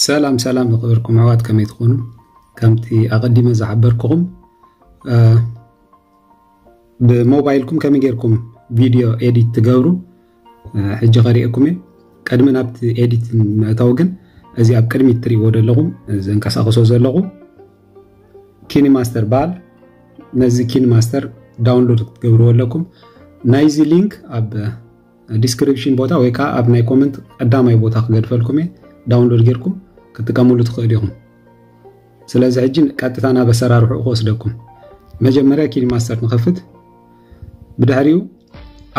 ሰላም ሰላም ዝኸበርኩም ኣሕዋት ከመይ ትኾኑ? ከምቲ ኣቐዲመ ዝሓበርኩኹም ብሞባይልኩም ከመይ ጌርኩም ቪድዮ ኤዲት ትገብሩ ሕጂ ከሪኤኩም እየ። ቅድሚ ናብቲ ኤዲት ምእታው ግን እዚ ኣብ ቅድሚት ትሪእዎ ዘለኹም ዘንቀሳቕሶ ዘለኹ ኪኒ ማስተር በሃል ነዚ ኪኒ ማስተር ዳውንሎድ ክትገብርዎ ኣለኩም ናይዚ ሊንክ ኣብ ዲስክሪፕሽን ቦታ ወይ ከዓ ኣብ ናይ ኮመንት ቀዳማይ ቦታ ክገድፈልኩም እየ ዳውንሎድ ጌርኩም ክትጥቀምሉ ትኽእሉ ኢኹም ስለዚ ሕጂ ቀጥታ ናብ ኣሰራርሑ ክወስደኩም መጀመርያ ኪን ማስተር ንኸፍት ብድሕሪኡ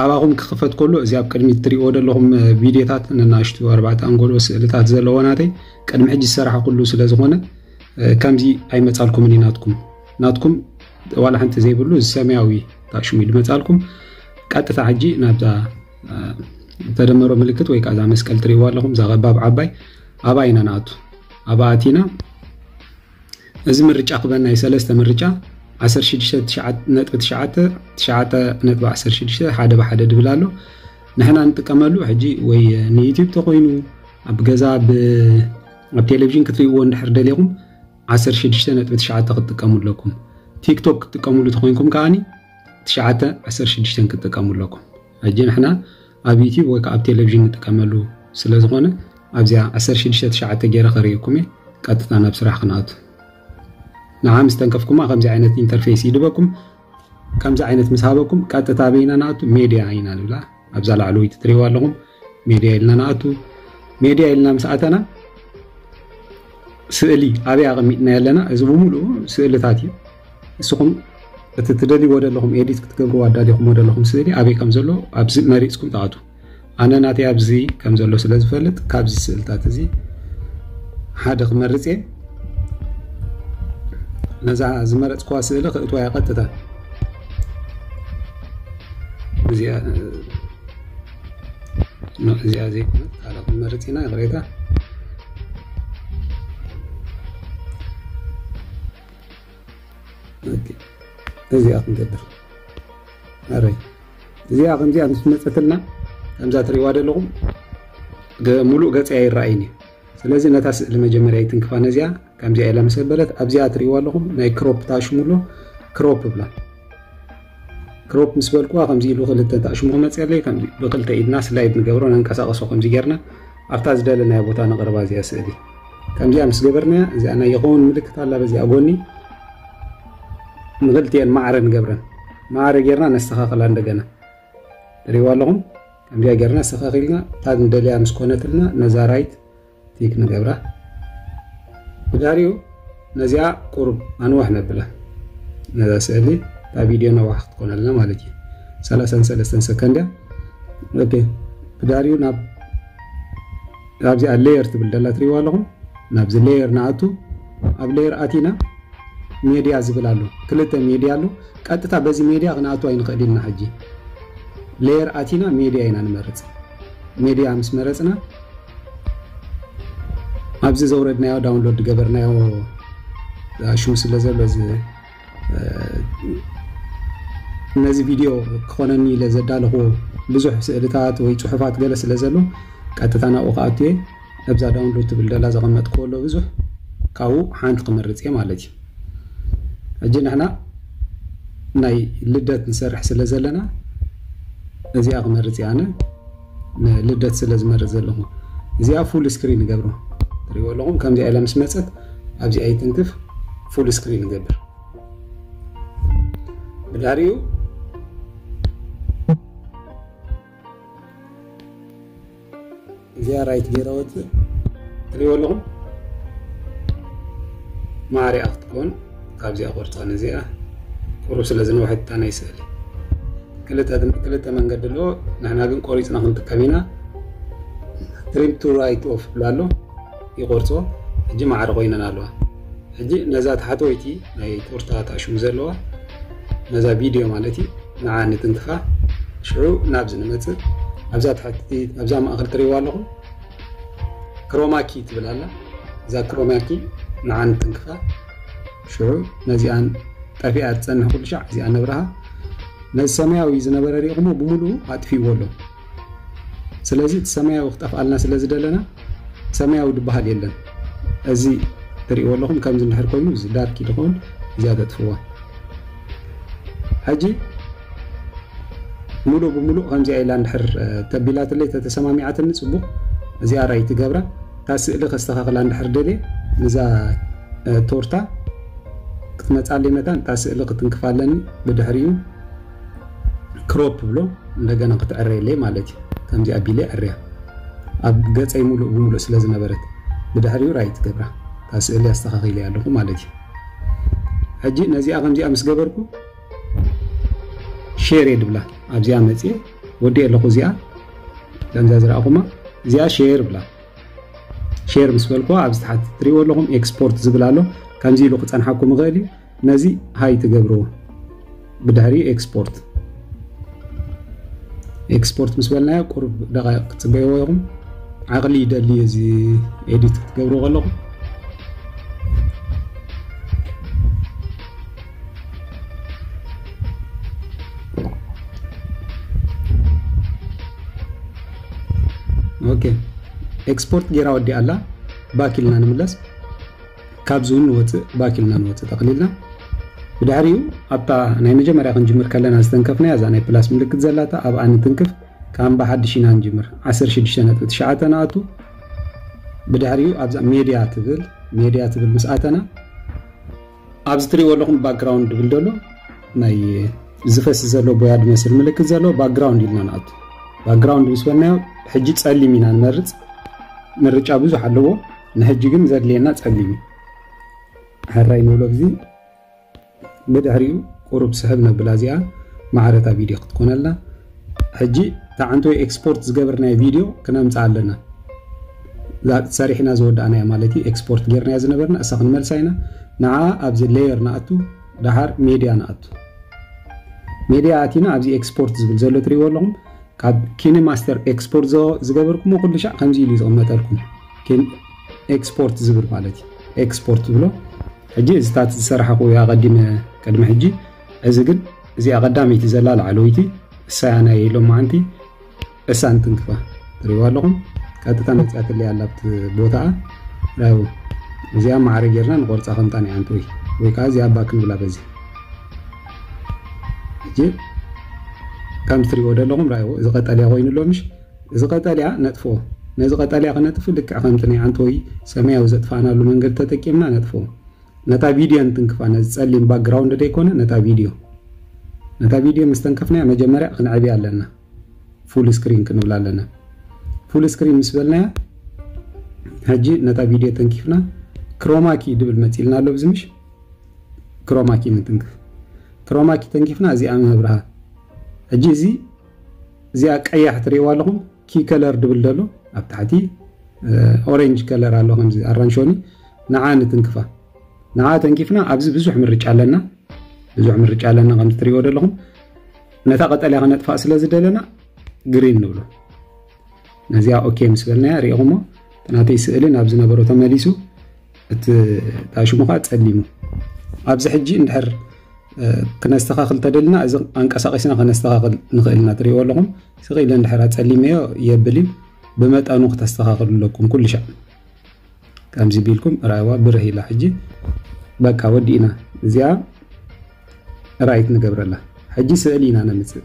ኣባኹም ክኽፈት ከሎ እዚ ኣብ ቅድሚ እትሪእዎ ዘለኹም ቪድዮታት ነናሽቱ ኣርባዕተ ኣንጎሎ ስእልታት ዘለዎ ናተይ ቅድሚ ሕጂ ዝሰራሕ ኩሉ ስለ ዝኾነ ከምዚ ኣይመፃልኩምን እዩ ናትኩም ናትኩም ዋላ ሓንቲ ዘይብሉ እዚ ሰማያዊ ታሽሙ ይመፃልኩም ቀጥታ ሕጂ ናብዛ ተደመሮ ምልክት ወይ ከዓ እዛ መስቀል ትሪእዋ ኣለኹም እዛ ቀባብ ዓባይ ኣብኣ ኢና ንኣቱ ኣብኣ ኣቲና እዚ ምርጫ ክበና እዩ ሰለስተ ምርጫ 16.9.16 ሓደ ብሓደ ድብል ኣሎ ንሕና ንጥቀመሉ ሕጂ ወይ ንዩትብ ተኮይኑ ኣብ ገዛ ኣብ ቴሌቭዥን ክትሪእዎ እንድሕር ደሊኹም 16.9 ክትጥቀሙ ኣለኩም ቲክቶክ ክትጥቀምሉ ተኮይንኩም ከዓኒ ትሽዓተ ዓሰርተ ሽዱሽተን ክትጥቀሙ ኣለኩም ሕጂ ንሕና ኣብ ዩቲብ ወይ ከዓ ኣብ ቴሌቭዥን ንጥቀመሉ ስለ ዝኾነ ኣብዚኣ ዓሰርተ ሽዱሽተ ትሽዓተ ገይረ ከርእየኩም እየ ቀጥታ ናብ ስራሕ ክንኣቱ ንዓ ምስ ተንከፍኩማ ከምዚ ዓይነት ኢንተርፌስ ይድበኩም ከምዚ ዓይነት ምስ ሃበኩም ቀጥታ በይና ንኣቱ ሜድያ ኢና ንብላ ኣብዛ ላዕለወይቲ ትሪእዋ ኣለኹም ሜድያ ኢልና ንኣቱ ሜድያ ኢልና ምስ ኣተና ስእሊ ኣበይ ኣቐሚጥና ኣለና እዚ ብምሉኡ ስእልታት እዩ ንስኹም እቲ ትደልይዎ ዘለኹም ኤዲት ክትገብርዎ ኣዳሊኹምዎ ዘለኹም ስእሊ ኣበይ ከም ዘሎ ኣብዚ መሪፅኩም ትኣቱ ኣነ ናተይ ኣብዚ ከም ዘሎ ስለ ዝፈልጥ ካብዚ ስእልታት እዚ ሓደ ክመርፅ እየ ነዛ ዝመረፅክዋ ስእሊ ክእትዋ እየ ቀጥታ እዚኣ እዚኣ ዘይኮነት ካልእ ክንመርፅ ኢና ይቕሬታ እዚኣ ክንገብር ኣረይ እዚኣ ከምዚኣ ምስ መፀትልና ከምዛ ትሪእዋ ዘለኹም ሙሉእ ገፀያ ይረኣይን እዩ ስለዚ ነታ ስእሊ መጀመርያ ይትንክፋ ነዚኣ ከምዚኣ ኢላ ምስ ኣበለት ኣብዚኣ ትርእይዋ ኣለኹም ናይ ክሮፕ ታሽሙ ኣሎ ክሮፕ ብላ ክሮፕ ምስ በልኩዋ ከምዚ ኢሉ ክልተ ታሽሙ ክመፅኣለይ ከምዚ ብክልተ ኢድና ስላይድ ንገብሮ ነንቀሳቀሶ ከምዚ ጌርና ኣብታ ዝደለናዮ ቦታ ነቕርባ እዚኣ ስእሊ ከምዚኣ ምስ ገበርናያ እዚኣ ናይ ይኸውን ምልክት ኣላ በዚኣ ጎኒ ንክልቲኤን ማዕረ ንገብረን ማዕረ ጌርና ነስተኻኽላ እንደገና ትርእይዋ ኣለኹም ከምዚኣ ጌርና ሰኸኽ ኢልና ታግ ንደልያ ምስ ኮነትልና ነዛ ራይት ቲክ ንገብራ ብዳሪኡ ነዚኣ ቁሩብ ኣንዋሕ ነብላ ነዛ ስእሊ እታ ቪድዮ ነዋሕ ክትኮነልና ማለት እዩ ሰላሳን ሰለስተን ሰከንድ እያ ኦኬ ብዳሪኡ ናብ ካብዚኣ ሌየር ትብል ደላ ትሪእዋ ኣለኹም ናብዚ ሌየር ንኣቱ ኣብ ሌየር ኣቲና ሜድያ ዝብል ኣሎ ክልተ ሜድያ ኣሎ ቀጥታ በዚ ሜድያ ክንኣቱ ኣይንኽእል ኢልና ሕጂ ለየር ኣቲና ሜድያ ኢና ንመርጽ ሜድያ ምስ መረጽና ኣብዚ ዘውረድናዮ ዳውንሎድ ዝገበርናዮ ኣሹ ስለ ዘሎ ነዚ ቪድዮ ክኾነኒ ኢለ ዘዳለኹዎ ብዙሕ ስእልታት ወይ ፅሑፋት ገለ ስለ ዘሎ ቀጥታ ናብኡ ክኣቱ እየ ኣብዛ ዳውንሎድ ትብል ደላ ዘቐመጥክዎ ኣሎ ብዙሕ ካብኡ ሓንቲ ክመርፅ እየ ማለት እዩ ሕጂ ንሕና ናይ ልደት ንሰርሕ ስለ ዘለና እዚኣ ክመርፅ እየ ኣነ ንልደት ስለ ዝመርፅ ዘለኹ እዚኣ ፉል ስክሪን ንገብሮ ትሪእዎ ኣለኹም ከምዚኣ ኢላ ምስ መፀት ኣብዚኣ ይትንክፍ ፉል ስክሪን ንገብር ብድሕሪኡ እዚኣ ራይት ገይረ ወፅእ ትሪእዎ ኣለኹም ማዕሪኣ ክትከውን ካብዚኣ ቆርፃ ነዚኣ ቁሩብ ስለ ዝነውሐት እታ ናይ ስእሊ ክልተ መንገዲ ኣሎ ንሕና ግን ቆሪፅና ክንጥቀም ኢና ትሪም ቱ ራይት ኦፍ ብላ ኣሎ ይቆርፆ ሕጂ ማዕሪ ኮይነን ኣለዋ ሕጂ ነዛ ታሕተወይቲ ናይ ፖርታ ታሽሙ ዘለዋ ነዛ ቪድዮ ማለት እዩ ንዓ ንትንክፋ ሽዑ ናብዚ ንመፅእ ኣብዛ ትሕቲ ኣብዛ ማእኸል ትሪእዋ ኣለኹም ክሮማኪ ትብል ኣላ እዛ ክሮማኪ ንዓ ንትንክፋ ሽዑ ነዚኣን ጠፊኣ ትፀንሕ ኩሉ ሻዕ እዚኣ ነብርሃ ነዚ ሰማያዊ ዝነበረ ሪኢኹሞ ብምሉኡ ኣጥፊእዎ ኣሎ ስለዚ እቲ ሰማያዊ ክጠፍኣልና ስለ ዝደለና ሰማያዊ ድበሃል የለን። እዚ ትሪእዎ ኣለኹም ከምዚ እንድሕር ኮይኑ እዚ ዳርኪ ድኾን እዚኣ ተጥፍዋ። ሕጂ ሙሉእ ብሙሉእ ከምዚኣ ኢላ እንድሕር ተቢላትለይ ተተሰማሚዓትኒ ጽቡቕ እዚኣ ራይት ይገብራ። እታ ስእሊ ከስተኻኽላ እንድሕር ደልየ ንዛ ቶርታ ክትመጻለይ መታን እታ ስእሊ ክትንክፋ ኣለኒ ብድሕሪኡ ክሮፕ ክብሎ እንደገና ክትዕረየለይ ማለት እዩ ከምዚ ኣቢለ ይዕርያ ኣብ ገፀይ ሙሉእ ብሙሉእ ስለ ዝነበረት ብድሕሪኡ ራይት ገብራ እታ ስእሊ ኣስተኻኺለያ ኣለኹ ማለት እዩ ሕጂ ነዚኣ ከምዚኣ ምስ ገበርኩ ሼር እየ ድብላ ኣብዚኣ መፅየ ወዲእ ኣለኹ እዚኣ ከምዛ ዝረኣኹማ እዚኣ ሼር ብላ ሼር ምስ በልኩዋ ኣብዚ ትሓት ትሪእዎ ኣለኹም ኤክስፖርት ዝብል ኣሎ ከምዚ ኢሉ ክፀንሓኩም ይኽእል እዩ ነዚ ሃይ ትገብርዎ ብድሕሪ ኤክስፖርት ኤክስፖርት ምስ በልናዮ ቁሩብ ደቃይቅ ክትፅበይዎ ኢኹም ዓቕሊ ይደሊ እዚ ኤዲት ክትገብሩ ከለኹም ኦኬ ኤክስፖርት ጌራ ወዲኣ ኣላ ባክ ኢልና ንምለስ ካብዚ እውን ንወፅእ ባክ ኢልና ንወፅእ ጠቕሊልና ብድሕሪኡ ኣብታ ናይ መጀመርያ ክንጅምር ከለና ዝተንከፍናያ እዛ ናይ ፕላስ ምልክት ዘላታ ኣብኣ ንትንክፍ ካም ብሓድሽ ኢና ንጅምር 16.9 ንኣቱ ብድሕሪኡ ኣብዛ ሜድያ ትብል ሜድያ ትብል ምስ ኣተና ኣብዚ ትሪእዎ ኣለኹም ባክግራውንድ ድብል ደሎ ናይ ዝፈስ ዘሎ ቦያ ድመስል ምልክት ዘሎ ባክግራውንድ ኢልና ንኣቱ ባክግራውንድ ምስ በልናዮ ሕጂ ፀሊም ኢና ንመርፅ ምርጫ ብዙሕ ኣለዎ ንሕጂ ግን ዘድልየና ጸሊም እዩ ሕራይ ንብሎ ብዚ ብድሕሪኡ ቁሩብ ስሕብ ነብላ እዚኣ ማዕረታ ቪድዮ ክትኮነልና ሕጂ ታዓንተወ ኤክስፖርት ዝገብርናዮ ቪድዮ ክነምጽኣ ኣለና ሰሪሕና ዝወዳእናያ ማለት እዩ ኤክስፖርት ጌርናያ ዝነበርና እሳ ክንመልሳ ኢና ንዓ ኣብዚ ሌየር ንኣቱ ድሓር ሜድያ ንኣቱ ሜድያ ኣቲና ኣብዚ ኤክስፖርት ዝብል ዘሎ ትሪእዎ ኣለኹም ካብ ኪኒ ማስተር ኤክስፖርት ዝገበርኩሞ ኩሉ ሻዕ ከምዚ ኢሉ ዝቕመጠልኩም ኪን ኤክስፖርት ዝብል ማለት እዩ ኤክስፖርት ዝብሎ ሕጂ እዚታት ዝሰራሕኹ እያ ቀዲመ ቅድሚ ሕጂ እዚ ግን እዚኣ ቀዳመይቲ ዘላ ላዕለወይቲ እሳያ ናይ ሎማዓንቲ ዕሳን ትንክፋ ትሪእዋ ኣለኹም ቀጥታ መፅያትለይ ኣላ ኣብቲ ቦታኣ ራዩ እዚኣ ማዕረ ጌርና ንቆርፃ ከምጣ ናይ ኣንቲ ወይ ወይ ከዓ እዚኣ ባክ ንብላ በዚ ሕጂ ከምቲ ትሪእዎ ዘለኹም ራዩ እዚ ቀጠልያ ኮይኑ ኣሎ ምሽ እዚ ቀጠልያ ነጥፎ። ነዚ ቀጠልያ ክነጥፍ ልክዕ ከምቲ ናይ ዓንተቦይ ሰማያዊ ዘጥፋእናሉ መንገዲ ተጠቂምና ነጥፎ። ነታ ቪድዮ ንትንክፋ፣ ነዚ ጸሊም ባክግራውንድ ደይኮነ ነታ ቪድዮ። ነታ ቪድዮ ምስ ተንከፍናያ መጀመርያ ክንዕብያ ኣለና። ፉል ስክሪን ክንብላ ኣለና። ፉል ስክሪን ምስ በልናያ ሕጂ ነታ ቪድዮ ተንኪፍና ክሮማኪ ድብል መጺልና ኣሎ ኣብዚ ምሽ ክሮማኪ ንትንክፍ። ክሮማኪ ተንኪፍና እዚኣ ንነብርሃ። ሕጂ እዚ እዚኣ ቀያሕ ትሪእዋ ኣለኹም ኪ ከለር ድብል ደሎ ኣብ ታሕቲ ኦሬንጅ ከለር ኣሎ ከምዚ ኣራንሾኒ ንዓ ንትንክፋ ንዓ ተንኪፍና ኣብዚ ብዙሕ ምርጫ ኣለና ብዙሕ ምርጫ ኣለና ከምዚ ትሪእዎ ደለኹም ነታ ቀጠልያ ክነጥፋእ ስለ ዝደለና ግሪን ንብሎ ነዚኣ ኦኬ ምስ በልናያ ሪኢኹሞ እቲ ናተይ ስእሊ ናብ ዝነበሮ ተመሊሱ እቲ ዳሽሙ ከዓ ፀሊሙ ኣብዚ ሕጂ እንድሕር ክነስተኻኽል ተደልና እዚ ኣንቀሳቂስና ከነስተኻኽል ንኽእል ኢና ትሪእዎ ኣለኹም ስቕ ኢለ እንድሕር ፀሊመዮ የብል እዩ ብመጠኑ ክተስተኻኽሉ ኣለኩም ኩሉ ሻዕ ከምዚ ቢልኩም ራይዋ ብርህ ኢላ ሕጂ በቃ ወዲእና እዚኣ ራይት ንገብረላ ሕጂ ስእሊ ኢና ነምፅእ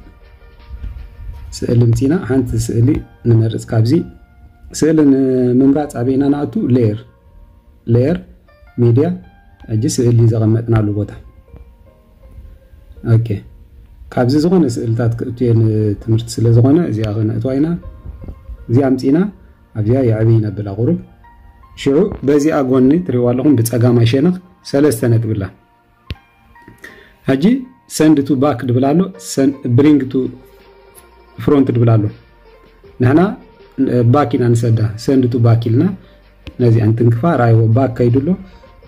ስእሊ ምፂና ሓንቲ ስእሊ ንመርፅ ካብዚ ስእሊ ንምምራፅ ኣበይና ንኣቱ ሌየር ሌየር ሚድያ ሕጂ ስእሊ ዘቐመጥናሉ ቦታ ኦኬ ካብዚ ዝኾነ ስእልታት ክእቱ እየ ንትምህርቲ ስለ ዝኾነ እዚኣ ክነእትዋ ኢና እዚኣ ምፂና ኣብዚኣ የዕብይ ነብላ ቁሩብ ሽዑ በዚኣ ጎኒ ትሪእዋ ኣለኹም ብጸጋማይ ሸነኽ ሰለስተ ነጥቢ ኣላ ሕጂ ሰንድ ቱ ባክ ድብል ኣሎ ብሪንግ ቱ ፍሮንት ድብል ኣሎ ንሕና ባክ ኢና ንሰዳ ሰንድ ቱ ባክ ኢልና ነዚኣ እንትንክፋ ራይዎ ባክ ከይዱ ኣሎ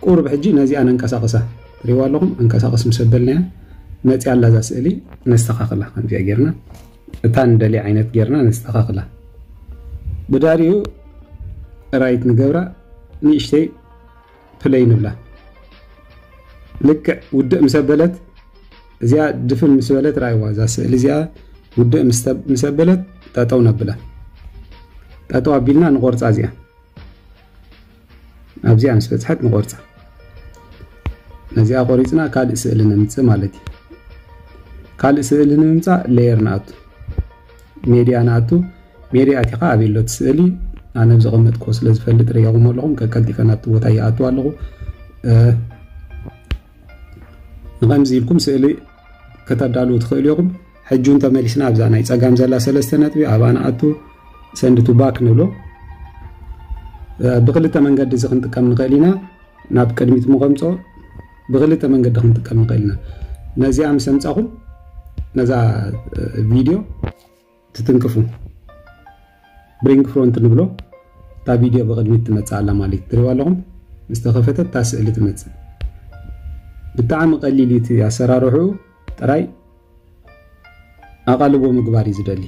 ቁርብ ሕጂ ነዚኣ ነንቀሳቕሳ ትሪእዋ ኣለኹም ኣንቀሳቕስ ምስ ኣበልናያ መፅያ ኣላ እዛ ስእሊ ነስተኻኽላ ከምዚኣ ጌርና እታ ንደልያ ዓይነት ጌርና ነስተኻኽላ ብዳርዩ ራይት ንገብራ ንእሽተይ ፕለይ ንብላ ልክዕ ውድእ ምስ ኣበለት እዚኣ ድፍን ምስ በለት ራይዋ እዛ ስእሊ እዚኣ ውድእ ምስ ኣበለት ጠጠው ነብላ ጠጠው ኣቢልና ንቆርፃ እዚኣ ኣብዚኣ ምስ በጽሐት ንቆርጻ ነዚኣ ቆሪጽና ካልእ ስእሊ ነምጽእ ማለት እዩ ካልእ ስእሊ ንምምጻእ ሌየር ንኣቱ ሜድያ ንኣቱ ሜድያ ኣቲኻ ኣበይ ኣሎ እቲ ስእሊ ኣነ ብዘቐመጥክዎ ስለ ዝፈልጥ ርየኹም ኣለኹም ከቀልጢፈ ናብቲ ቦታ ይኣቱ ኣለኹ ንከምዚ ኢልኩም ስእሊ ከተዳልዉ ትኽእሉ ኢኹም ሕጂ እውን ተመሊስና ኣብዛ ናይ ፀጋም ዘላ ሰለስተ ነጥቢ ኣብኣ ንኣቱ ሰንድ ቱ ባክ ንብሎ ብክልተ መንገዲ እዚ ክንጥቀም ንኽእል ኢና ናብ ቅድሚት ምቐምፆ ብክልተ መንገዲ ክንጥቀም ንኽእል ኢና ነዚኣ ምስ ኣምፃኹም ነዛ ቪድዮ ትትንክፉ ብሪንግ ፍሮንት ንብሎ እታ ቪድዮ ብቅድሚት ትመፅእ ኣላ ማለት እዩ ትሪእዋ ኣለኹም ምስ ተኸፈተት እታ ስእሊ ትመፅእ ብጣዕሚ ቀሊል እዩ እቲ ኣሰራርሕኡ ጥራይ ኣቓልቦ ምግባር እዩ ዝደሊ።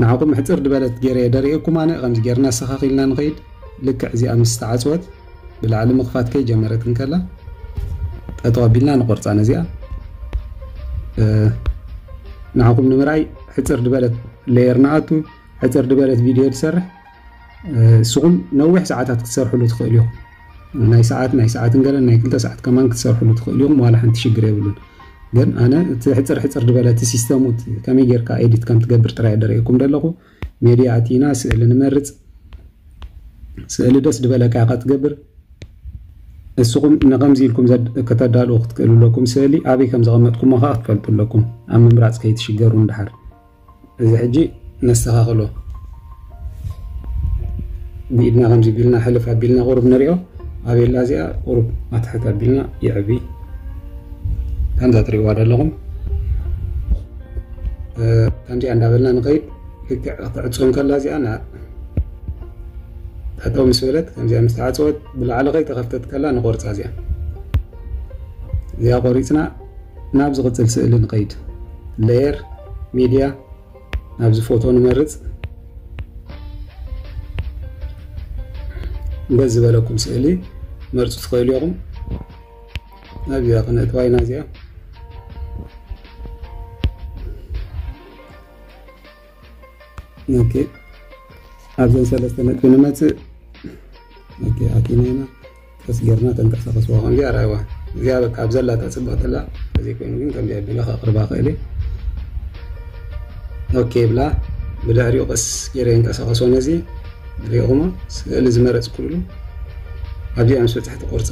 ንዓኹም ሕጽር ድበለት ገይረየ ደርእየኩም ኣነ ከምዚ ገርና ኣሰኻኺልና ንኸይድ ልክዕ እዚኣ ምስ ተዓጽወት ብላዕሊ ምኽፋት ከይ ጀመረት እንከላ ጠጠው ኣቢልና ንቆርጻ ነዚኣ ንዓኹም ንምርኣይ ሕጽር ድበለት ሌየር ንኣቱ ሕጽር ድበለት ቪድዮ ትሰርሕ ንስኹም ነዊሕ ሰዓታት ክትሰርሕሉ ትኽእሉ ኢኹም ናይ ሰዓት ናይ ሰዓትን ገለ ናይ ክልተ ሰዓት ከማን ክትሰርሕሉ ትኽእሉ ኢኹም ዋላ ሓንቲ ሽግር የብሉን ግን ኣነ እቲ ሕጽር ሕጽር ድበለ እቲ ሲስተሙ ከመይ ጌርካ ኤዲት ከም ትገብር ጥራይ ደርእየኩም ደለኹ ሜድያ ኣቲና ስእሊ ንመርጽ ስእሊ ደስ ድበለካ ኢኻ ትገብር እስኹም ንከምዚ ኢልኩም ከተዳልኡ ክትክእሉ ኣለኩም ስእሊ ኣበይ ከም ዘቐመጥኩሞ ከኣ ክትፈልጡ ኣለኩም ኣብ ምምራጽ ከይትሽገሩ ንድሓር እዚ ሕጂ ነስተኻኽሎ ብኢድና ከምዚ ቢልና ሕልፍ ኣቢልና ቁሩብ ንሪኦ ኣቤላ እዚኣ ቁሩብ ኣትሕት ኣቢልና ይዕቢ ከምዛ ትሪእዋ ዘለኹም ከምዚኣ እንዳበልና ንኸይድ ልክዕ ክትዕፅም ከላ እዚኣ ጠጠው ምስ በለት ከምዚኣ ምስ ተዓፀወት ብላዕሊ ከይተኸፍተት ከላ ንቆርፃ እዚኣ እዚኣ ቆሪፅና ናብ ዝቕጽል ስእሊ ንኸይድ። Layer፣ Media፣ ናብዚ ፎቶ ንመርጽ። ደስ ዝበለኩም ስእሊ መርጹ ትኽእሉ ኢኹም። ናብዚኣ ክነእትዋ ኢና እዚኣ። ኦኬ ኣብዘን ሰለስተ ነጥቢ ንመፅእ ኦኬ ኣቲና ኢና ቀስ ጌርና ተንቀሳቐስዋ ከምዚ ኣርኣይዋ እዚኣ በቃ ኣብ ዘላታ ፅብቕቲ ኣላ እዚ ኮይኑ ግን ከምዚ ኣቢለ ከቕርባ ክእል ኦኬ ብላ ብድሕሪኡ ቀስ ጌረ የንቀሳቐሶ ነዚ ሪኢኹሞ ስእሊ ዝመረፅኩሉ ኣብዚኣ ምስ በፅሕቲ ቆርፃ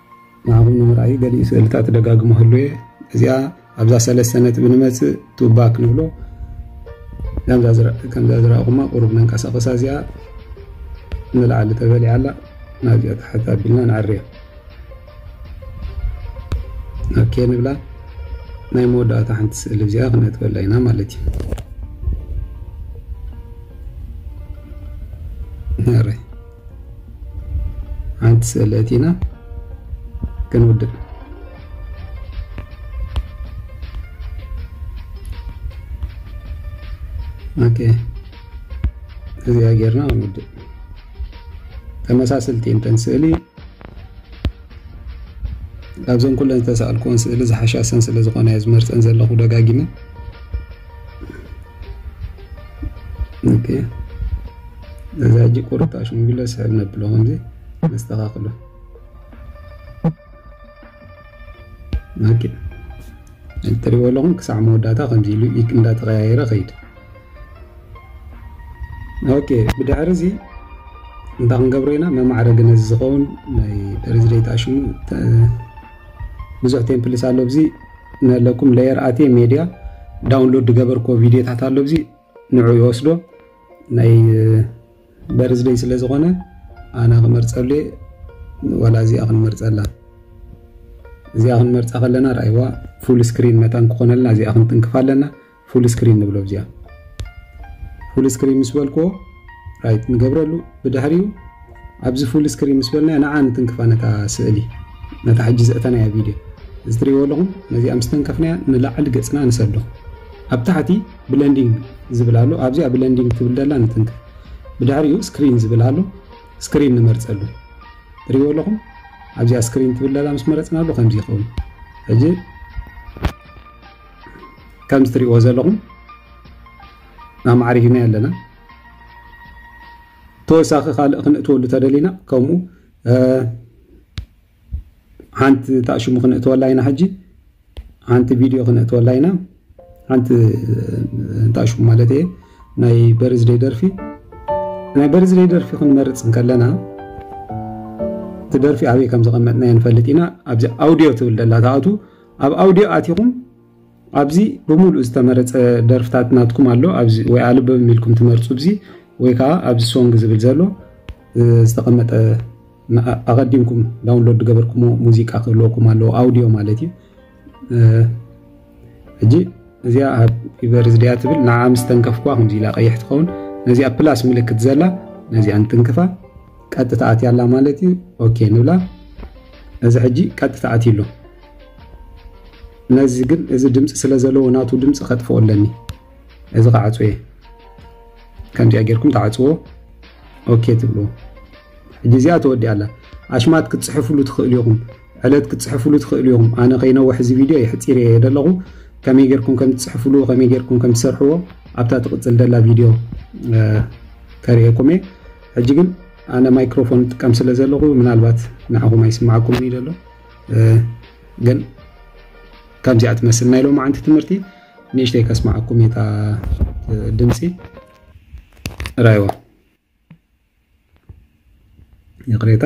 ናሆም ንምርኣዩ ገሊኡ ስእልታት ደጋግሞ ህሉየ እዚኣ ኣብዛ ሰለስተ ነጥቢ ንመፅእ ቱባ ክንብሎ ከምዛ ዝረእኹማ ቁሩብ ነንቀሳቐሳ እዚኣ ንላዕሊ ተበሊዓ ኣላ ናብዚኣ ታሕት ኣቢልና ንዕርያ ኦኬ ንብላ ናይ መወዳእታ ሓንቲ ስእሊ እዚኣ ክነጥበላ ኢና ማለት እዩ ሓንቲ ስእሊ እቲና ክንውድእ ኦኬ እዚኣ ጌርና ክንውድእ ተመሳሰልቲ እንተን ስእሊ ካብዘን ኩለን ዝተሰኣልኩዎን ስእሊ ዝሓሻሰን ስለ ዝኾነ እየ ዝመርፀን ዘለኹ ደጋጊመ ኦኬ ነዛ ጅቅ ቁርጣ ሽምግለ ስሕብ ነብሎ ከምዚ ነስተኻኽሎ ናኪ እትሪእዎ ኣለኹም ክሳዕ መወዳእታ ከምዚ ኢሉ ኢክ እንዳተቀያየረ ከይድ ኦኬ ብድሕሪ እዚ እንታ ክንገብሮ ኢና መማዕረግ ነዚ ዝኸውን ናይ ሬዝሌት ኣሽሙ ብዙሕ ቴምፕልስ ኣሎ ብዚ ነለኩም ለየር ኣትየ ሜድያ ዳውንሎድ ዝገበርክዎ ቪድዮታት ኣሎ ብዚ ንዑ ይወስዶ ናይ በርዝደይ ስለ ዝኾነ ኣነ ክመርጸሉ እየ ዋላ እዚኣ ክንመርጸላ እዚኣ ክንመርጻ ከለና ርኣይዋ ፉል ስክሪን መታን ክኾነልና እዚኣ ክንትንክፍ ኣለና ፉል ስክሪን ንብሎ ብዚኣ ፉል ስክሪን ምስ በልክዎ ራይት ንገብረሉ ብድሕሪኡ ኣብዚ ፉል ስክሪን ምስ በልና ንዓ ንትንክፋ ነታ ስእሊ ነታ ሕጂ ዘእተናያ ቪድዮ እዚ ትሪእዎ ኣለኹም ነዚኣ ምስ ተንከፍናያ ንላዕሊ ገጽና ንሰዶ ኣብ ታሕቲ ብለንዲንግ ዝብል ኣሎ ኣብዚኣ ብለንዲንግ ትብል ደላ ንትንክፍ ብድሕሪኡ ስክሪን ዝብል ኣሎ ስክሪን ንመርፀሉ ትሪእዎ ኣለኹም ኣብዚኣ ስክሪን ትብል ደላ ምስ መረፅናሉ ከምዚ ይኸውን ሕጂ ከምዚ ትሪእዎ ዘለኹም ኣማዕሪግና ኣለና ተወሳኺ ካልእ ክንእትወሉ ተደሊና ከምኡ ሓንቲ ታሽሙ ክንእትወላ ኢና ሕጂ ሓንቲ ቪድዮ ክንእትወላ ኢና ሓንቲ ታሽሙ ማለት እየ ናይ በርዝደይ ደርፊ ናይ በርዝደይ ደርፊ ክንመርፅ እንከለና እቲ ደርፊ ኣበይ ከም ዘቐመጥናዮ ንፈልጥ ኢና ኣብዚ ኣውድዮ ትብል ደላ ተኣቱ ኣብ ኣውድዮ ኣቲኹም ኣብዚ ብምሉእ ዝተመረጸ ደርፍታት ናትኩም ኣሎ ኣብዚ ወይ ኣልበም ኢልኩም ትመርጹ ብዚ ወይ ከዓ ኣብዚ ሶንግ ዝብል ዘሎ ዝተቐመጠ ኣቐዲምኩም ዳውንሎድ ገበርኩሞ ሙዚቃ ክህልወኩም ኣለዎ ኣውዲዮ ማለት እዩ ሕጂ እዚኣ ኣብ ዩበርዝ ድያ ትብል ንዓ ምስ ተንከፍኳ ከምዚ ኢላ ቀይሕ ትኸውን ነዚኣ ፕላስ ምልክት ዘላ ነዚኣ ንትንክፋ ቀጥታ ኣትያላ ማለት እዩ ኦኬ ንብላ እዚ ሕጂ ቀጥታ ኣትዩ ኣሎ ነዚ ግን እዚ ድምፂ ስለ ዘለዎ ናቱ ድምፂ ከጥፍኦ ኣለኒ እዚ ክዓፁ እየ ከምዚኣ ጌርኩም ትዓፅዎ ኦኬ ትብልዎ ሕጂ እዚኣ ተወዲኣ ኣላ ኣሽማት ክትፅሕፍሉ ትኽእሉ ኢኹም ዕለት ክትፅሕፍሉ ትኽእሉ ኢኹም ኣነ ከይነውሕ እዚ ቪድዮ የሕፂር እየ ዘለኹ ከመይ ጌርኩም ከም ትፅሕፍሉ ከመይ ጌርኩም ከም ትሰርሕዎ ኣብታ ትቕፅል ደላ ቪድዮ ከርእየኩም እየ ሕጂ ግን ኣነ ማይክሮፎን ጥቀም ስለ ዘለኹ ምናልባት ንዓኹም ኣይስማዓኩም እዩ ዘሎ ግን ከምዚኣ ትመስል ናይ ሎማዓንቲ ትምህርቲ ንእሽተይ ከስማዓኩም እታ ድምፂ ራይዋ ይቅሬታ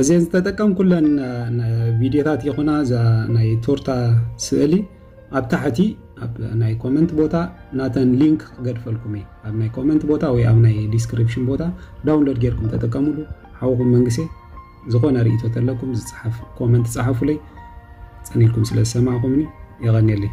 እዘን ዝተጠቀምኩለን ቪድዮታት ይኹና እዛ ናይ ቶርታ ስእሊ ኣብ ታሕቲ ኣብ ናይ ኮመንት ቦታ ናተን ሊንክ ክገድፈልኩም እዩ ኣብ ናይ ኮመንት ቦታ ወይ ኣብ ናይ ዲስክሪፕሽን ቦታ ዳውንሎድ ጌርኩም ተጠቀሙሉ ሓውኹም መንግሴ ዝኾነ ርእቶ ተለኩም ዝፅሓፍ ኮመንት ፀሓፉለይ ፀኒልኩም ስለ ዝሰማዕኩምኒ የቐኒየለይ